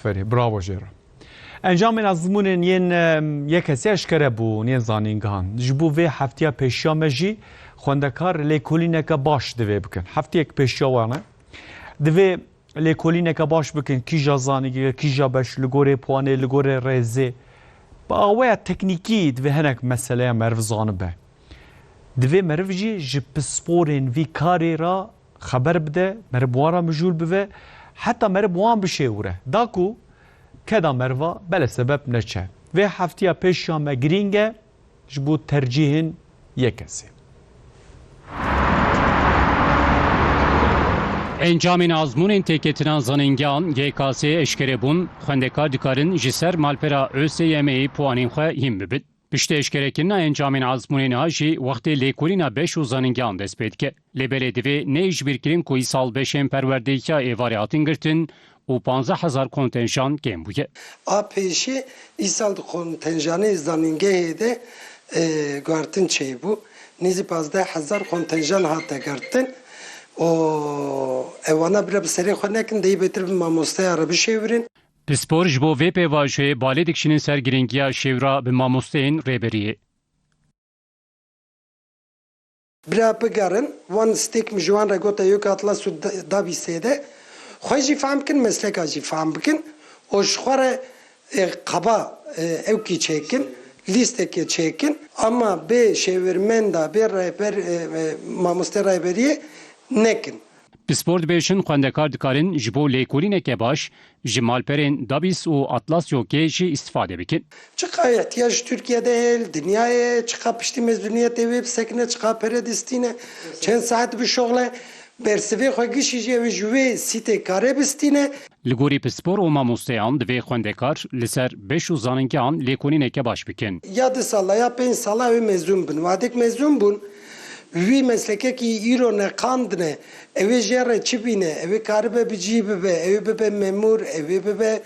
Aferî, bravo jê re. Encamên ezmûnên yên yekesî eşkere bûn yên zanîngehan. Ji bo vê heftiya pêşiya me jî xwendekar lêkolîneke baş divê bikin. Heftiyek pêşiya wan e. Divê lêkolîneke baş bikin kîja zanîngehê, kîja beş, li gorê puanê, li gorê rêzê. Bi aweya teknîkî divê hinek meseleya meriv zanibe. Divê meriv jî ji pisporên vî karê re Xeber bide, merib wan ra mijûl bive, heta merib wan bişêwire. Da ku keda meriva bele sebep neçe. Vê heftiya pêş ya me girîng e ji bo tercîhên yek kesê. Encamên azmûnên têketina zanîngehan GKS'ê eşkere bûn, xwendekar dikarin ji ser malpera ÖSYM'ê puanên xwe hîn bibin. Piştî eşkerekirina encamên ezmûnê niha jî wextê lêkolîna beş û zanîngehan dest pê dike. Lê belê divê neyê ji bîr kirin ku îsal beşên perwerdehiya êvarê hatin girtin û panzdeh hezar kontenjan kêm bûye. A pêşê îsal di kontenjanê zanîngehê de guhertin çêbû. Nêzî panzdeh hezar kontenjan hate girtin û ew wana bire bi serê xwe nekin, deyê bêtir bi mamosteya re bişêwirin. Pispor ji bo vê pêvajoyê balê dikişînin ser girîngiya şêwira bi mamosteyên Rêberiyê. Bira bigerin wan stêk min ji wan re gote yok atlas û dabî sêde. Xwe jî fehm bikin mesleka jî fehm bikin û ji xwe re qeba ewkî çêkin lîstekê çêkin ama bê şêwirmenda bê rehber mamoste rehberiyê nekin. Pispor dibêjin xwendekar dikarin ji bo lêkolîneke baş ji malperên Dabis û Atlasio K jî îstîfade bikin. Çiqa îhtiyac ji Tirkiye de heye li dinyayê, çiqa piştî mezûniyetê wê bisekine, çiqa pere distîne, çend saet dibişoxle, bersivê xwe gişî jî ew ê ji wê sîtê karê bistîne. Li gorî pispor û mamosteyan divê xwendekar li ser beş û zaningehan lêkolîneke baş bikin. Ya du sala ya pênc sala ew ê mezûn bin. Wadek mezûn bûn. Wî meslekekî îro neqandine, ew ê jê re çi bîne, ew ê karibe bi cî bibe, ew ê bibe memûr, ew ê bibe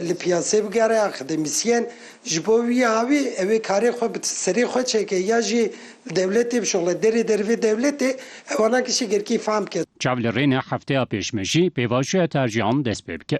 li piyasê bigere, akademîsyen. Ji bo wî awî ew ê karê xwe bi serê xwe çêke ya jî li dewletê bişuxile, derê dervê dewletê ewa nake şegerkî fam bike. Çav li rê ne hefteya pêşmejî pêvajoya tercîhan dest pê bike.